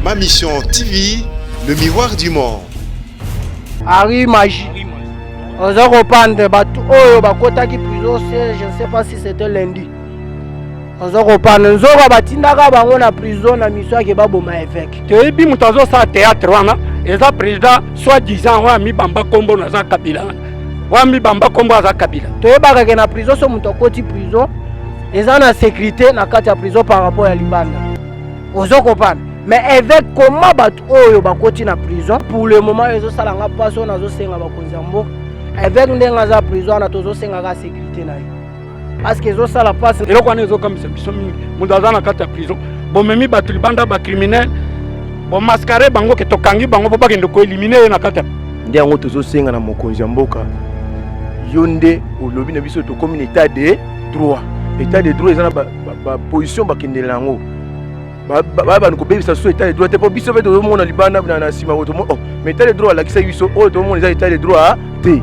Ma Mission TV, le miroir du monde. Harry Magie. oza kopanda bato oyo bakotaki prison siège je ne sais pas si c'était lundi oza kopanda nzoka batindaka bango na prison na miso yake baboma évêque toyebi moto azosala théâtre wana eza président soit disant oyo amibamba nkombo naza kabila wana wambi bamba kombo aza kabila toyebaka ke na prison so moto akoti prison eza na sécurité na kati ya prison par rapport ya libanda ozo kopana mais évêque koma bato oyo bakoti na prison pour le moment ezosala nga mpasi oyo nazosenga bakonzi ya mboka évêque ndenge aza prison wana tozosengaka sécurité na ye parce que ezosala mpasi eloko wana ezokamisa biso mingi moto aza na kati ya prison bomemi bato libanda bacriminel bomaskare bango ke tokangi bango mpo bakende koelimine ye na kati ya nde yango tozosenga na mokonzi ya mboka yo nde olobi na biso tokomi na etat de droit etat de droit eza na baposition bakendela yango babanda kobebisa susu etat de droit te mpo biso mpe tozomona libanda na nsima oyo tomona oh, mais etat de droit alakisaki biso oyo tomona eza etat de droit te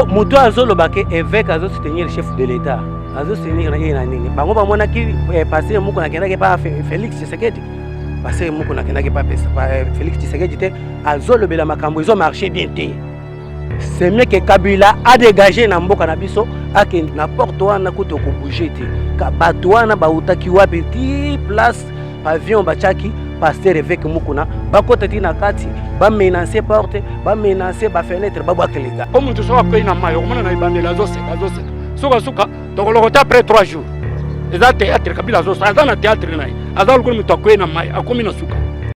moto azoloba ke évêque azosoutenir chef de l'état azosoutenir na ye na nini bango bamonaki eh, pasteur moko nakendaki pa félix tshisekedi pasteur moko nakendaki pa eh, félix tshisekedi te azolobela makambo ezo marché bien te semeke kabila adegage na mboka na biso akende na porte wana kutu okobouge te bato wana bautaki wapi ti place pavillon batiaki paster eveke mukuna bakota ti na kati bamenance porte bamenance bafenetre babwaka leta o moto soki akwei na mai okomona na ebandeli azoseka azoseka sukasuka tokolokota après 3 jours eza théâtre kabila azosala aza na théâtre na ye aza lokola moto akwei na mai akomi na suka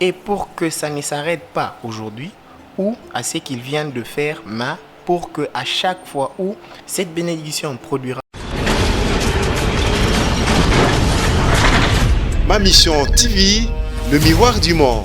Et pour que ça ne s'arrete pas aujourd'hui ou à ce qu'il vient de faire mais pour que à chaque fois où cette bénédiction produira Ma Mission TV, le miroir du monde.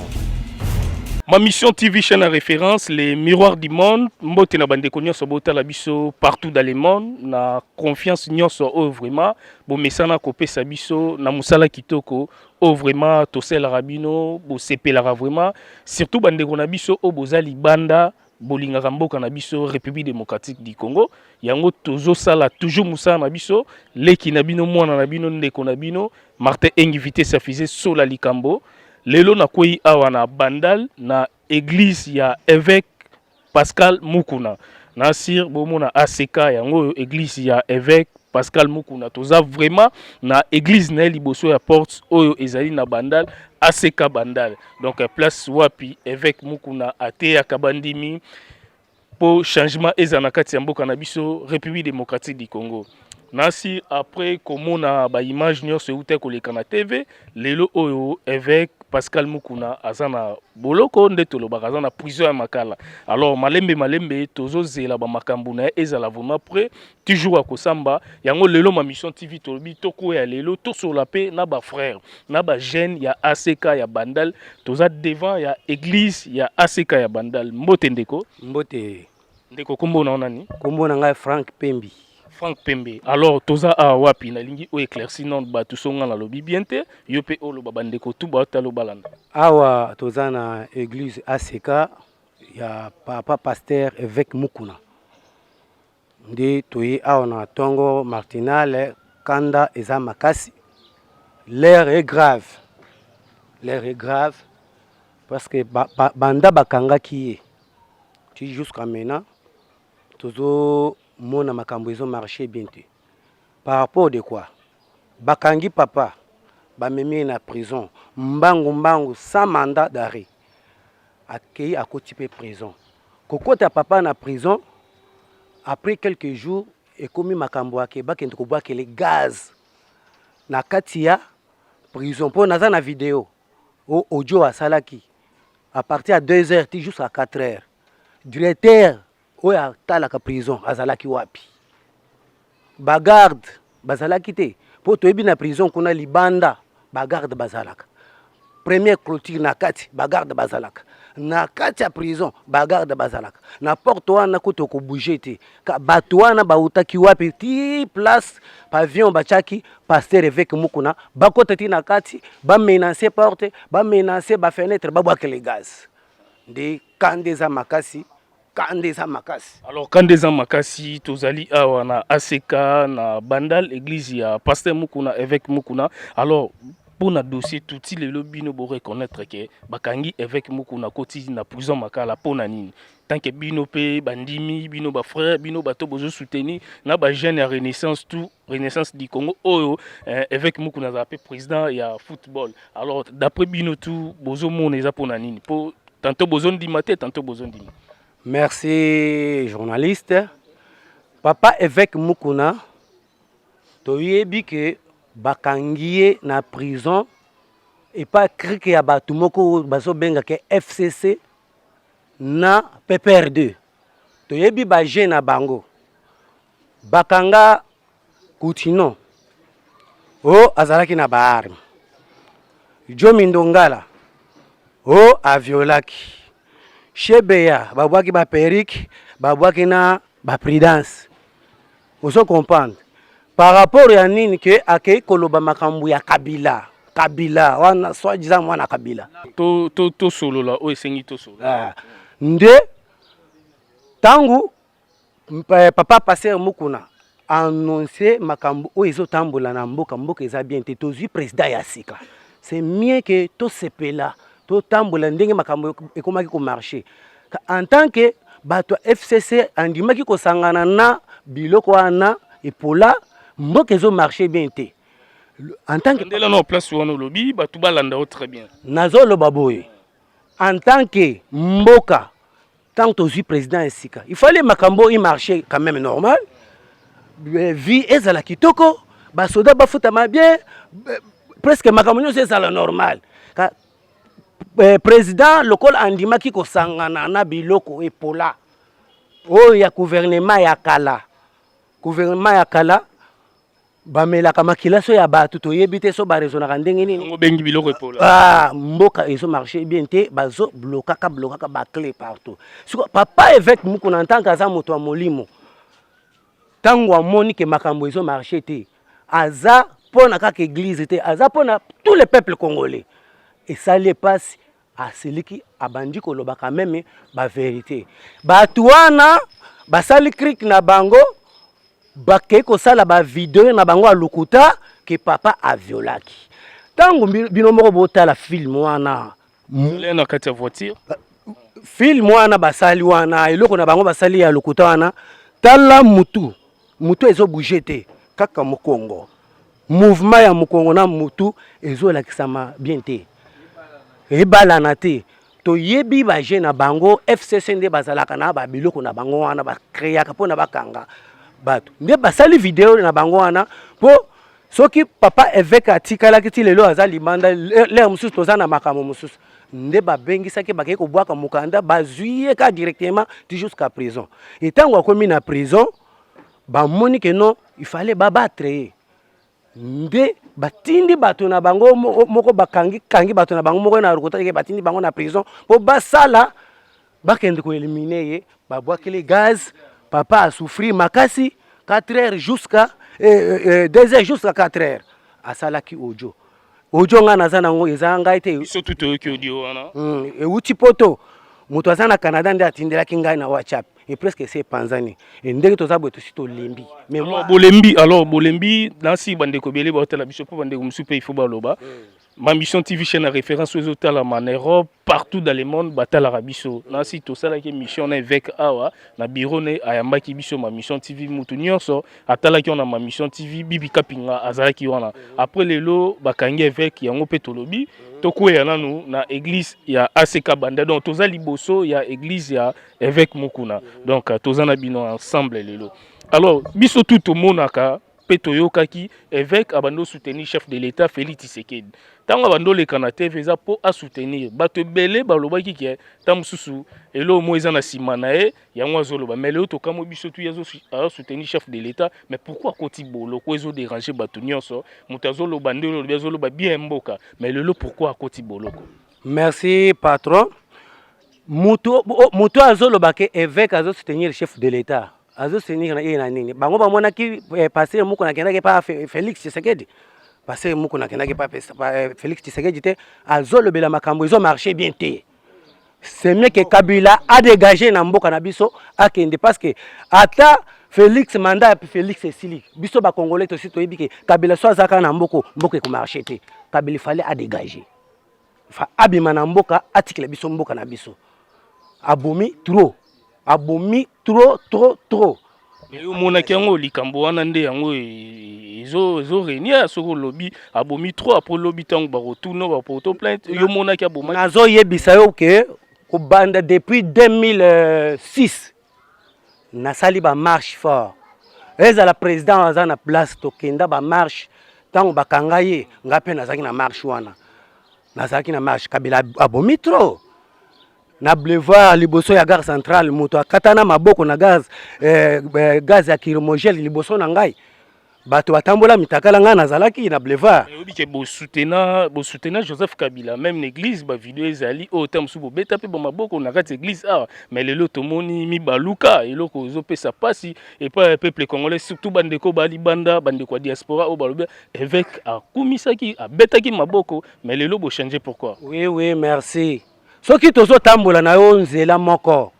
Ma Mission TV, chaîne à référence, les miroirs du monde. Mbote na bande nyonso botala biso partout dans le monde. Na confiance nyonso oyo vraiment. Bomesana kopesa biso na musala kitoko oyo vraiment tosalelaka bino bosepelaka vraiment surtout bandeko na biso oyo boza libanda bolingaka mboka na biso république démocratique du congo yango tozosala toujours mosala na biso leki na bino mwana na bino ndeko na bino martin engi vitesse ya fise sola likambo lelo nakwei awa na bandal na Eglise ya Eveque Pascal Mukuna. Na sir bomona ACK yango oyo eglise ya Eveque Pascal Mukuna. Toza vraiment na eglise na ye liboso ya porte oyo ezali na Bandal ACK Bandal. Donc place wapi Eveque Mukuna ateyaka bandimi mpo changement ezala na kati ya mboka na biso République démocratique du Congo. Nasi après komona ba image nyonso euta koleka na TV, lelo oyo évêque Pascal Mukuna aza na boloko nde tolobaka aza na prison ya makala. Alors malembe malembe tozozela ba makambo na ye ezala vraiment près ti jour ya kosamba yango lelo ma mission tv tolobi tokoya lelo tosolola mpe na ba frère na ba jeune ya ack ya bandal toza devant ya église ya ack ya bandal mbote ndeko mbote ndeko kombo na yo nani kombo na ngai frank pembi frank pembe alors toza awa wapi nalingi o éclairci non bato so ngai nalobi bien te yo mpe oloba bandeko tu baotala obalana awa toza na église ack ya papa pasteur évêque mukuna Nde toye awa na tongo martinale kanda eza makasi l'air est grave l'air est grave parce que ba, ba, banda bakangaki ye ti jusqu'à maintenant tozomona makambo ezo marche bien te par rapport de quoi bakangi papa bamemi ye na prison mbangu mbangu sans mandat d'arrêt akeyi akoti mpe prison. Kokota papa na prison après quelques jours ekomi makambo ake bakende kobwakele gaz na kati ya prison mpo naza na video o audio asalaki à partir ya 2 heures ti jusqu'à 4 heures directeur oyo atalaka prison azalaki wapi bagarde bazalaki te mpo toyebi na prison kuna libanda bagarde bazalaka première clôture na kati bagarde bazalaka na kati ya prison bagarde bazalaka na porte wana kutu okobouge te bato wana bautaki wapi ti place pavion batiaki paster eveke mokuna bakota ti na kati bamenance porte bamenance bafenetre babwakele gaz nde kanda eza makasi kanda eza makasi alors kanda eza makasi tozali awa na ack na bandal église ya pasteur mukuna évêque mukuna alors mpo na dossier tuti lelo bino bo reconnaître ke bakangi évêque mukuna koti na prison makala mpo na nini tant que bino mpe bandimi bino bafrère bino bato bozo soutenir na bajeune ya renaissance tout renaissance du congo oyo eh, évêque mukuna azala mpe président ya football alors d'après bino tout bozomona eza mpo na nini mpo Tanto bozo ndima te, tanto bozo ndima. Merci journaliste. Papa évêque Mukuna, toyebi que bakangi ye na prison epa krike ya bato moko oyo bazobengaka fcc na pprd Toyebi ba jeux na bango. Bakanga Coutinho. Oh azalaki na ba armes. Jomi Ndongala. Oh aviolaki. Shebeya babwaki ba perruque, babwaki na ba prudence. Ozo comprendre par rapport ya nini ke akei koloba makambo ya Kabila Kabila wana soi disant mwana Kabila to to to solola oyo esengi to solola ah. nde tangu eh, papa pasteur Mukuna annonce makambo oyo ezotambola na mboka mboka eza bien te tozwi président ya sika c'est mieux que tosepela totambola ndenge makambo ekomaki komarche En tant que bato ya FCC andimaki kosangana na biloko wana epola mboka ezo marche bien te en tant que ndela na place wana olobi bato balanda yo très bien nazoloba boye en tant que mboka ntango tozwi président ya sika il fallait makambo oyo marché quand même normal euh, vie ezala kitoko basoda bafutama bien euh, presque makambo nyonso ezala normal Eh, président lokola andimaki kosangana na biloko epola oyo ya gouvernement ya kala gouvernement ya kala bamelaka makila so ya bato toyebi te so barezonaka ndenge nini obengi biloko epola ah, mboka ezo marche bien te bazo blokaka blokaka baclé partout siko papa évêque mokuna en tant que aza moto ya molimo Tango amoni que makambo ezo marcher te, aza pona kaka eglise te, aza pona tous les peuples congolais. Esali ye pasi, asiliki, abandi koloba quand meme ba verite. Batu wana basali crique na bango, bakei kosala ba video na bango ya lokuta que papa a violaki. Tango bino moko botala film wana, Soleil na kati ya voiture. Film wana basali wana eloko na bango basali ya lokuta wana tala mutu mutu ezo bouger te kaka mukongo mouvement ya mukongo na mutu ezo lakisama bien te ebalana te toyebi baje na bango fcc nde bazalaka na babiloko na bango wana bakreaka mpo na bakanga bato nde basali video na bango wana mpo soki papa eveke atikalaki ti lelo aza libanda lere mosusu toza na makambo mosusu nde babengisaki bakei kobwaka mokanda bazwi ye ka directement ti jusqu'à prison e ntango akomi na prison bamoni ke non ifale babatre ye nde batindi bato na bango moko bakangi kangi bato na bango moko na rokotake batindi bango na prison mpo basala bakende ko eliminer ye babwakeli gaz papa a souffrir makasi 4 heures jusqu'à eh, eh, eh, 2 heures jusqu'à 4 heures asalaki audio audio ngai naza nango eza ngai te biso tu toyoki audio wana mm, euti poto moto aza na canada nde atindelaki ngai na whatsapp e presque esi epanzani e ndenge toza boye tosi tolembi bolembi alors bolembi nasi bandeko ebele baotala biso mpo bandeko mosusu mpe ifo baloba mm. Ma mission TV chaîne à référence aux autres là en Europe partout dans le monde batala rabiso na si to sala ki mission na évêque awa na bureau ne ayamba ki biso ma mission TV mutu nyonso atala ki on a ma mission TV bibi kapinga azala ki wana après le lo bakangi évêque yango pe tolobi to kuya nanu na église ya ACK banda donc toza liboso ya église ya évêque mukuna donc toza na bino ensemble le lo alors biso tout to monaka Mpe toyokaki eveque abandi soutenir chef de l'etat Felix Tshisekedi. Ntango abandi oleka na TV eza mpo asoutenir. Bato ebele balobaki ke ntango mosusu eloko moko eza na nsima na ye yango azoloba. Mais lelo tokamwe biso tu azosoutenir chef de l'etat mais pourquoi akoti boloko ezo déranger bato nyonso. Moto azoloba ndenge olobi azoloba bien mboka mais lelo pourquoi akoti boloko. Merci patron. Moto, moto azoloba ke eveque azosoutenir chef de l'etat. azo senir na ye na nini bango bamonaki eh, pasteur moko nakendaki pa Felix Tshisekedi pasteur moko nakendaki pa eh, Felix Tshisekedi te azolobela makambo ezo marche bien te c'est mieux que Kabila a dégagé na mboka na biso akende parce que ata Felix mandat ya Felix esili biso ba congolais tosi toyebi ke Kabila so azaka na mboko mboko ekomarche te Kabila fallait a dégager fa abima na mboka atikela biso mboka na biso abomi trop abomi trop trop trop omonaki yango likambo wana nde yango e, e, ezo ezo renia soki olobi abomi trop apres lobi ntango bakotuna bapoto plainte yo omonaki abomaki nazoyebisa yo ke kobanda depuis 2006 nasali ba marche fort ezala president aza na place tokenda ba marche ntango bakanga ye ngai mpe nazalaki na marche wana nazalaki na marche kabila abomi trop na boulevard liboso ya gare centrale moto akatana maboko na gaz, eh, eh, gaz ya kirimogele liboso na ngai bato batambola mitakala ngai nazalaki na boulevard eh, oyebi ke bosutena bosutena joseph kabila meme na église bavideo ezali oyo oh, ta mosusu bobeta mpe bamaboko na kati ya église awa ah, mais lelo tomoni mibaluka eloko ozopesa mpasi epai ya peuple congolais surtout bandeko balibanda bandeko ya diaspora oyo balobi évêque akumisaki abetaki maboko mais lelo bochange pourquoi oui oui merci soki tozotambola na yo nzela moko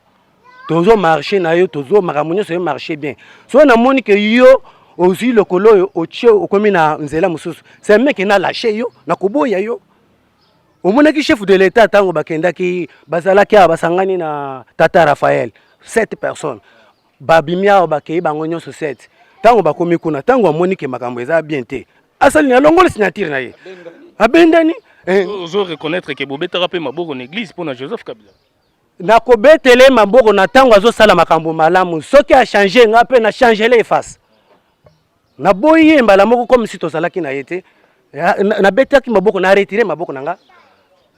tozo marche na yo tozo makambo nyonso yo marche bien soki namoni ke yo ozwi lokolo oyo otie okomi na nzela mosusu semeke na lashe yo na koboya yo omonaki chef de l'etat ntango bakendaki bazalaki awa basangani na tata raphael 7 personnes babimi awa bakei bango nyonso 7 ntango bakomi kuna ntango amoni ke makambo eza bien te asali na alongoli signature na ye abendani eh. ozo reconnaître ke bobetaka mpe maboko na eglise mpo na joseph kabila na kobetela ye maboko na ntango azosala makambo malamu soki achange nga mpe na changele ye face naboyi ye mbala moko comme si tozalaki na ye te nabetaki maboko na retire maboko na nga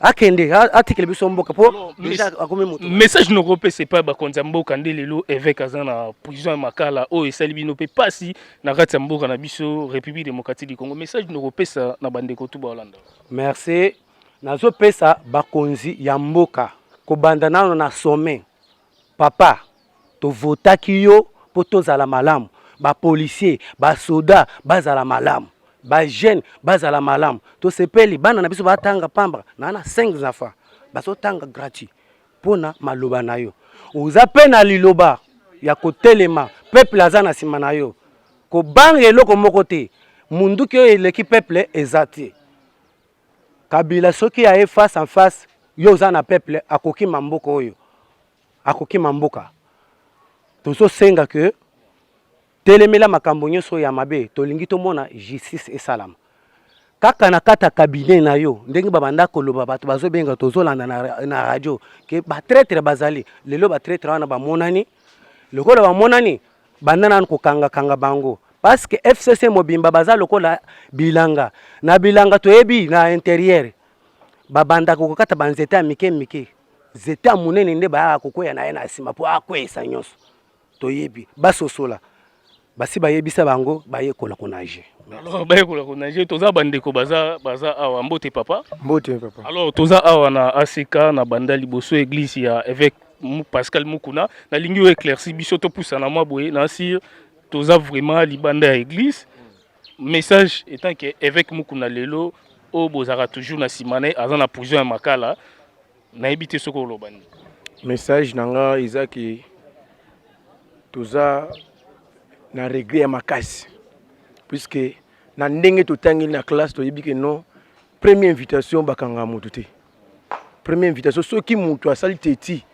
akende atikele biso mboka mpo akomi moto message nokopesa epai bakonzi ya mboka nde lelo évêque aza na prison ya makala oyo esali bino mpe mpasi na kati ya mboka na biso république démocratique du congo message nokopesa na bandeko tu baolanda merci Nazopesa bakonzi ya mboka kobanda nano na sommet papa tovotaki yo po tozala malamu ba policiers ba soda bazala malamu ba jeune bazala malamu tosepeli bana na biso batanga pambra na na 5 enfants bazotanga gratuit mpona maloba na yo oza mpe na liloba ya kotelema peuple aza na nsima na yo kobanga eloko moko te munduki oyo eleki peuple eza te Kabila soki aye face en face yo oza na peuple akokima mboka oyo akokima mboka tozosenga ke telemela makambo nyonso ya mabe tolingi tomona justice esalama kaka na kata cabinet na yo ndenge babanda koloba bato bazobenga tozolanda na, na radio ke batraitre bazali lelo batraitre wana bamonani lokola bamonani banda nanu kokangakanga bango paske fcc mobimba baza lokola bilanga na bilanga toyebi na interieur babandaka kokata banzete ya mike mike nzete ya monene nde bayaka kokweya na ye na nsima mpo akweyisa nyonso toyebi basosola basi bayebisa bango bayekola konage alors bayekola konage toza bandeko baza baza awa mbote papa mbote papa alors toza awa na asika na banda liboso eglise ya évêque Pascal Mukuna nalingi yo éclairci biso topusana mwa boye na sir toza vraiment libanda ya église message étant que évêque Mukuna lelo oyo bozalaka toujours na nsima na ye aza na prison ya makala nayebi te soki oloba nini message na nga eza ke toza na regret ya makasi puisque na ndenge totangeli na classe toyebi ke non première invitation bakanga moto te Première invitation soki mutu asali teti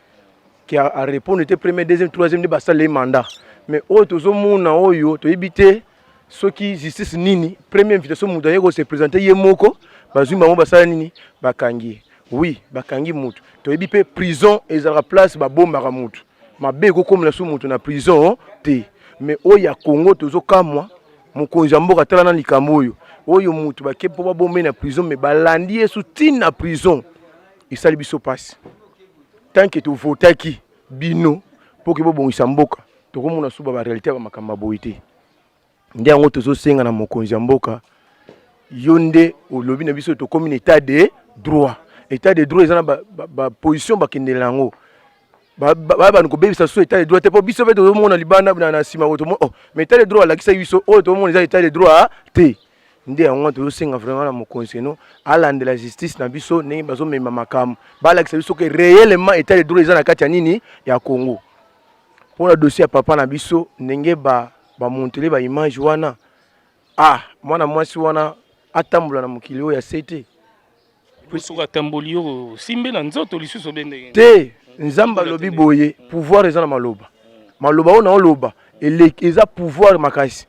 qui a, a répondre te premier deuxième troisième nde basala ye mandat mais oyo tozomona oyo toyebi te soki justice nini premier invitation moto aye kose présente ye moko bazwi bango basala nini bakangi ye oui bakangi moto toyebi mpe prison ezalaka place babombaka moto mabe ekokomela so moto na prison te mais oyo ya congo tozokamwa Mokonzi ya mboka tala na likambo oyo oyo moto bake mpo babombe na prison me balandi yesu tine na prison esali biso mpasi tanke tovotaki bino mpo ke bobongisa mboka tokomona suba barealité ya bamakambo ya boye te nde yango tozosenga na mokonzi ya mboka yo nde olobi na biso tokomi na etat de droit etat de droit eza na baposition ba, ba bakendela yango babanda kobebisa susu etat de droit te mpo biso mpe tozomona libanda na nsima o oh, mais etat de droit alakisaki biso oyo tomona eza etat de droit te nde yango wana tozosenga vraiment na mokonzi eno alandela justice na biso ndenge bazomema makambo balakisa biso ke réellement etat de droit eza na kati ya nini ya congo mpo na dossier ya papa na biso ndenge bamontele ba baimage wana ah mwana mwasi wana atambola na mokili oyo ya se te soki atamboli yo osimbe na nzoto lisusu obe ndenge te nzambe alobi boye pouvoir eza na maloba maloba oyo naoloba eleki eza pouvoir makasi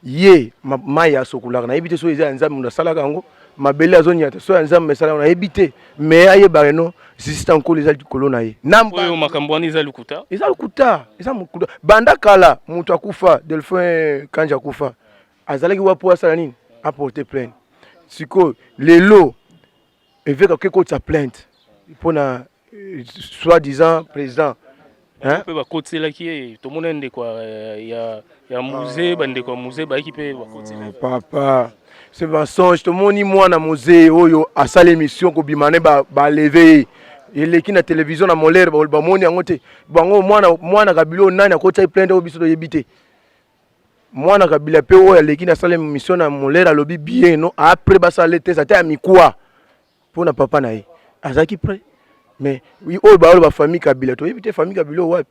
ye mai asokolaka nayebi te soki eza ya nzambe moto asalaka yango mabele azonyata soki ya nzambe esala yango nayebi te me ayebaka no zizita nkolo eza likolo na ye naoyo makambo wana eza lokuta eza lokuta eza mokuta banda kala moto akufa delphin kanje akufa azalaki wapi po asala nini aporte plainte sikoyo lelo eveke akoki kotisa plainte mpo na euh, soit disant président mpe bakotiselaki ye tomona ndeko euh, ya, ya muze ah. bandeko ya muze bayaki mpe bakotiselaki oh, papa ce mensonge tomoni mwana muze oyo asala émission kobima ne baleve ba ye eleki na televizio na molere bamoni yango te bango mwana mwana kabila oyo nani akotisaki plainte oyo biso toyebi te Mwana Kabila pe oyo aleki na sala emission na Molera alobi bien no a près ba sala test ata ya mikwa po na papa na ye azalaki près mais oyo ba ba famille Kabila to yebite famille Kabila wapi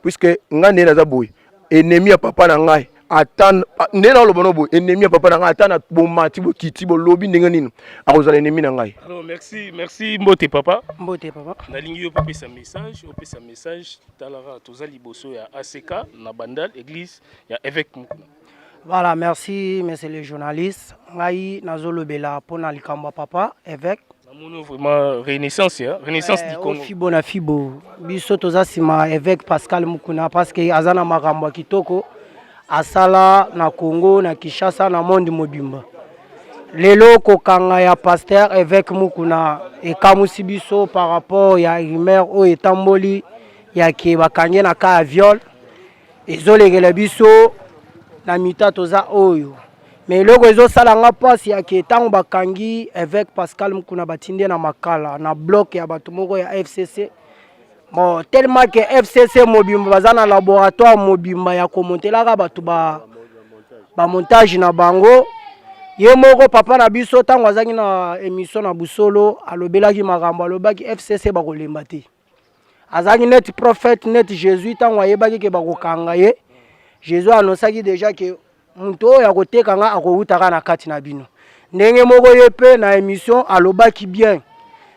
puisque nga nde naza boye ennemi ya papa na ngai ata nde na lobo no boye ennemi ya papa na ngai ata na bomati bokiti bolobi ndenge nini akozala ennemi na ngai alors merci merci mbote papa mbote papa nalingi yo pe pesa message opesa message Tala kaka toza liboso ya ACK na Bandal église ya évêque Mukuna. Voilà, merci monsieur le journaliste. Ngai nazolobela mpo na likambo ya papa évêque namoni vraiment renaissance ya renaissance du eh, Congo fibo na fibo biso toza nsima évêque Pascal Mukuna parce que aza na makambo ya kitoko asala na Congo na Kinshasa na monde mobimba lelo kokanga ya pasteur évêque Mukuna ekamusi biso par rapport ya rumeur oyo etamboli ya ke bakangi na cas ya viol ezolekela biso na mita toza oyo me eloko ezosala nga mpasi yake ntango bakangi évêque pascal mukuna batindi na makala na bloke ya bato moko ya fcc Bon, tellement que FCC mobimba baza na laboratoire mobimba ya komontelaka bato ba, ba montage na bango ye moko papa na biso ntango azalaki na émission na busolo alobelaki makambo alobaki fcc bakolemba te azalaki neti prophète neti jésus ntango ayebaki ke bakokanga ye jésus anonsaki déjà ke moto oyo akoteka nga akowuta kaka na kati na bino ndenge moko ye mpe na émission alobaki bien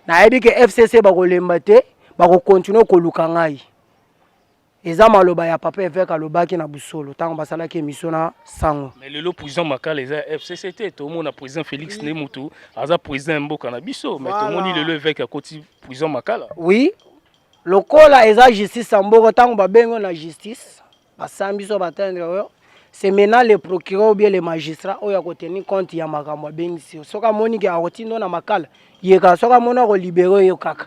nayebi ke fcc bakolemba te bakokontinue koluka ngai eza maloba ya papa eveke alobaki na busolo ntango basalaki émission na sango mais lelo président makala eza ya fcc te tomona président félix nde motu aza président ya mboka na biso mais tomoni lelo eveke akoti président makala oui lokola eza justice ya mboka ntango babengo na justice Basambi so batendre yo c'est maintenant le procureur ou bien le magistrat oyo akoteni compte ya makambo abengisi yo soki amoni ke akotinda yo na makala ye kaka soki amoni akolibere yo kaka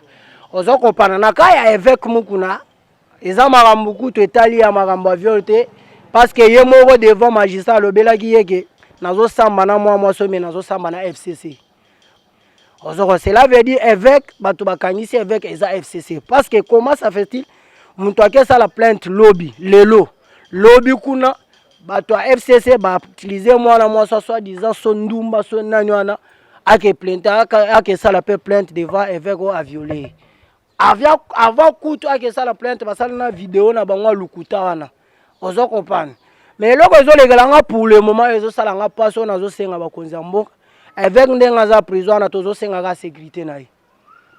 ozo kopana na ka ya evêque mukuna eza makambo kutu etali ya makambo ya viol te parce que ye moko devant magistrat alobelaki ye ke nazosamba na mwa mwa somi nazosamba na fcc ozoko cela veut dire évêque bato bakangisi évêque eza fcc parce que comment ça fait-il moto ake esala plainte lobi lelo lobi kuna bato ya fcc bautilise mwana mwasi ya soit disant so ndumba so nani wana ake plainte ake esala mpe plainte devant évêque oyo aviole avant kutu ake esala plainte basala na video na bango ya lokuta wana ozo comprendre mais eloko ezolekela nga pour le moment ezosala nga mpasi oyo nazosenga bakonzi ya mboka eveke ndenge aza prison wana tozosengaka sécurité na ye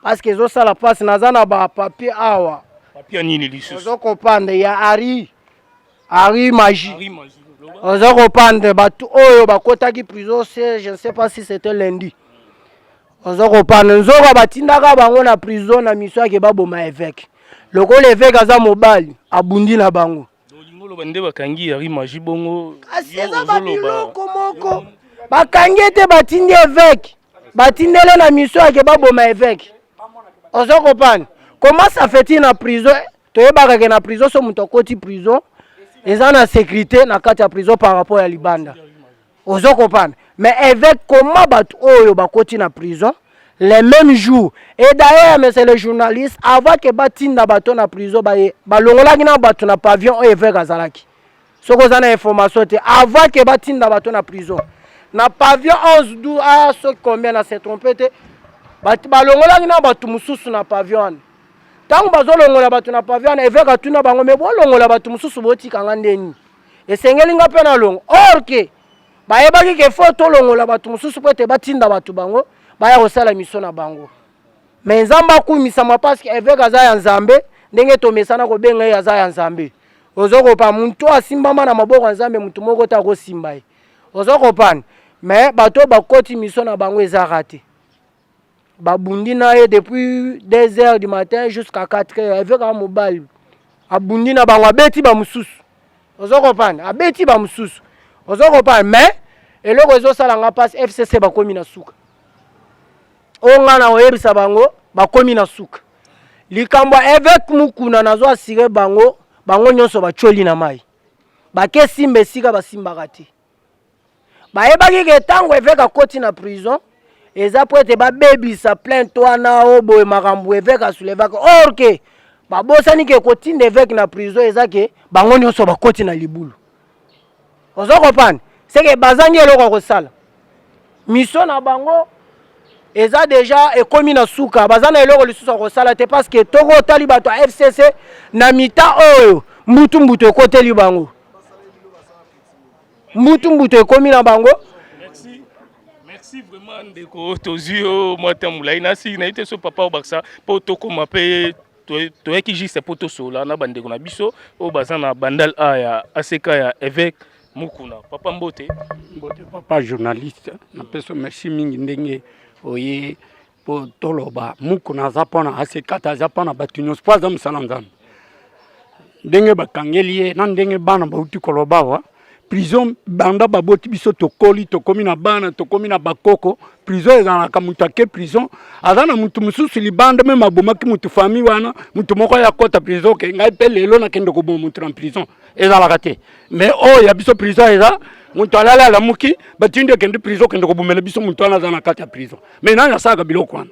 parce que ezosala mpasi naza na bapapier awa papier nini lisusu ozo comprendre ya ari ari magie ozo comprendre bato oyo bakotaki prison se je ne sais pas si c'était lundi ozo kopana nzoka batindaka bango na prison na miso yake baboma eveke lokola eveke aza mobali abundi na bango oloba nde bakangi yari maji bongo kasi eza babiloko moko bakangi ete batindi eveke batindele na miso yake baboma eveke ozo kopana koma safeti na prison toyebaka ke na prison so moto akoti prison eza na sécurité na kati ya prison par rapport ya libanda ozo comprendre mais avec comment bato oyo bakoti na prison le même jour et d'ailleurs monsieur le journaliste avant que batinda bato na prison baye balongolaki na bato na pavillon oyo eveke azalaki soki oza na information te avant que batinda bato na prison na pavillon 11 12 ah, soki combien na se trompe te balongolaki na bato mosusu na pavillon wana ntango bazolongola bato na pavillon wana eveke atuna bango me bolongola bato mosusu botika nga ndeni esengeli nga mpe nalongo or ke bayebaki ke fo tolongola bato mosusu mpo ete batinda bato bango baya kosala miso na bango me nzambe akumisama parceke eveke aza ya nzambe ndenge tomesana kobenga ye aza ya nzambe ozo kopana moto oyo asimbama na maboko ya nzambe moto moko te akosimba ye ozo kopana me bato oyo bakoti miso na bango ezaka te babundi na ye depuis 2 heures du matin jusqu'à 4 heures eveka mobali abundi na bango abeti bamosusu ozo comprendre abeti bamosusu ozo comprendre mais eloko ezosala nga mpasi fcc bakomi na suka oyo ngai na koyebisa bango bakomi na suka likambo ya eveke mokuna nazo asire bango bango nyonso batyoli na mai bakesimba esika basimbaka te bayebaki ke ntango eveke akoti na prison eza mpo ete babebisa plainte wana o boye makambo eveke asulevaka or ke babosani ke kotinda eveke na prison eza ke bango nyonso bakoti na libulu ozo kopana seke bazangi eloko ya kosala miso na bango eza deja ekomi na suka baza na eloko lisusu ya kosala te parce que toko otali bato ya fcc na mita oyo mbutu mbutu ekoteli bango mbutu mbutu ekomi na bango merci vraiment ndeko tozwi yo mwa ntango molai nasi nayebi te so papa obakisa mpo tokoma mpe toyaki juste mpo tosolola na bandeko na biso oyo baza na bandal a ya aseka ya évêque mokuna papa mbote mbote papa journaliste napeso merci mingi ndenge oye mpo toloba mukuna aza mpona asekata aza mpona bato nyonso mpo aza mosala nzambe ndenge bakangeli ye na ndenge bana bauti koloba wa prison banda baboti biso tokoli tokomi na bana tokomi na bakoko prison ezalaka moto ake prison aza na moto mosusu libanda meme abomaki moto famille wana moto moko aya kota prison oke ngai mpe lelo nakende koboma moto na prison ezalaka te mais oyo ya biso prison eza moto alali alamuki batindi ekende prison okende kobomela biso moto wana aza na kati ya prison Mais nani asalaka biloko wana?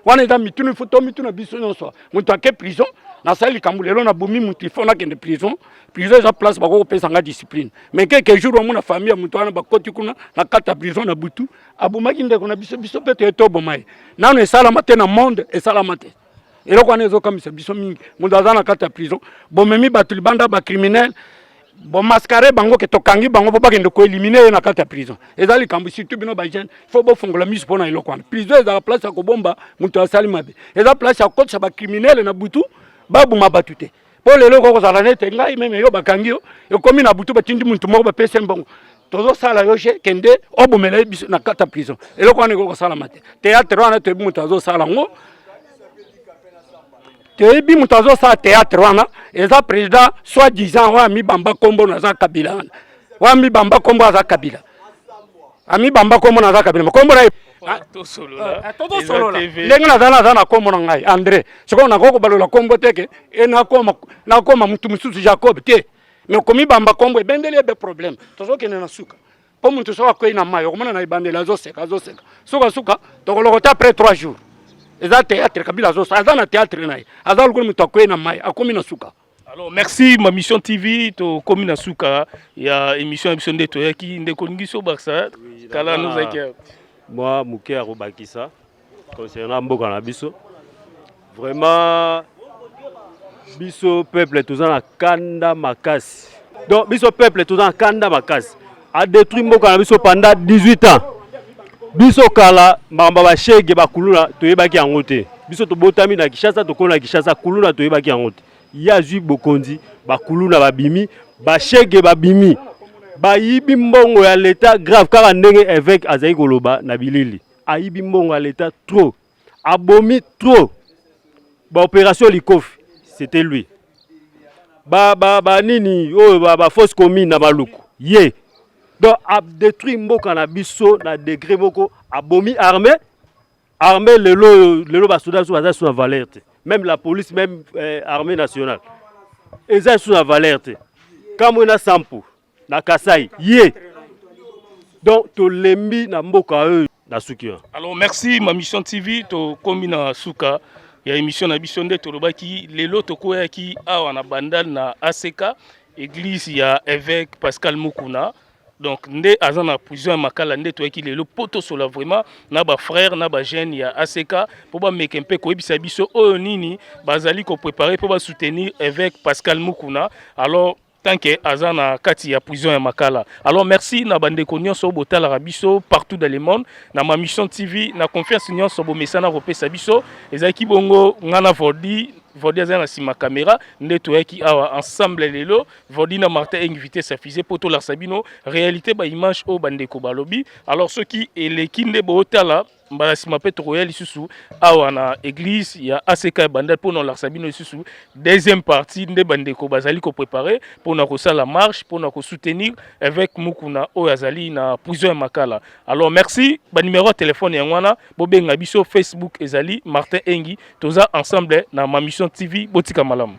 Wana eza mituna ifo to mituna biso nyonso. Moto ake prison nasali likambo lelo na bomi moto ifo nakende prison. Prison eza place bakoki kopesa nga discipline. Mais quelque jour omona famille ya moto wana bakoti kuna na kata prison na butu abomaki ndeko na biso biso mpe toye toboma ye. Nano esalama te na monde esalama te. eloko wana ezokamisa biso mingi moto aza na kati ya prison bomemi bato libanda bacriminel bomascare bango ke tokangi bango mpo bakende koelimine ye na kati ya prison eza likambo surtout bino bajeune fo bofongola miso mpo na eloko wana prison ezala place ya kobomba moto asali mabe eza place ya kokotisa bacriminele na butu babuma bato te po lelo okoki kozala nete ngai meme yo bakangi yo ekomi na butu batindi muntu moko bapesi mbongo tozosala yo je kende obomela ye biso na kata prison eloko wana ekoki kosalama te teatre wana toyebi moto azosala yango toyebi moto azosala teatre wana eza président soit disant oyo amibamba nkombo naza kabila wana oyo amibamba nkombo aza kabila amibamba kombo na kaka bino kombo na ah, tosolola ah, ndenge naza naza na kombo na ngai andre sikoyo nakoki kobalola kombo teke e nakoma nakoma motu mosusu jacob te me komibamba kombo ebendeli ebe problème tozokende na suka mpo motu soki akwei na mai okomona na ebandeli azoseka azoseka sukasuka tokolokota après trois jours eza théâtre kabila azosala aza na théâtre na ye aza lokola motu akwei na mai akomi na suka Alors merci ma mission TV to komi na suka ya émission biso nde to yaki nde ko ngiso baksa kala nous akia moi muke ya kobakisa concernant mboka na biso vraiment biso peuple toza na kanda makasi donc biso peuple toza na kanda makasi a détruit mboka na biso pendant 18 ans biso kala makambo ya bashege bakuluna toyebaki yango te biso tobotami na kinshasa tokoli na kinshasa kuluna toyebaki yango te ye azwi bokonzi bakuluna babimi bashege babimi bayibi mbongo ya leta grave kaka ndenge eveke azali koloba na bilili ayibi mbongo ya leta trop abomi trop ba opération likofi c'était lui ba ba ba nini oyo ba, ba fausse commune na maluku ye donc a détruit mboka na biso na degré moko abomi armée armée lelo oyo lelo basoda biso baza so na valeur te même la police même euh, armée nationale eza so na valeur te kamwe na sampo na Kasai ye donc tolembi na mboka oyo na suki wana. Alors merci ma mission TV tokomi na suka ya émission na biso nde tolobaki lelo tokweyaki awa na Bandal na ACK église ya évêque Pascal Mukuna donc nde aza na prison ya makala nde toyaki lelo mpo tosola vraiment na bafrère na bajeune ya ack mpo bameke mpe koyebisa biso oyo nini bazali koprépare mpo basoutenir évêque pascal mukuna alors tant que aza na kati ya prison ya makala alors merci na bandeko nyonso botalaka biso partout dans le monde na ma mission tv na confiance nyonso bomesana kopesa biso ezalaki bongo ngai na vordi vordi azali na nsima kamera nde toyaki awa ensemble lelo vordi na martin invité safise mpo tolakisa bino réalité baimage oyo bandeko balobi alors soki eleki nde bootala mbala nsima mpe tokoya lisusu awa na église ya ack ya bandal mpo na kolakisa bino lisusu deuxième partie nde bandeko bazali koprépare mpo na kosala marche mpo na kosoutenir évêque mukuna oyo azali na prison ya makala alors merci banimero ya telefone yango wana bobenga biso facebook ezali martin engi toza ensemble na mamision tv botika malamu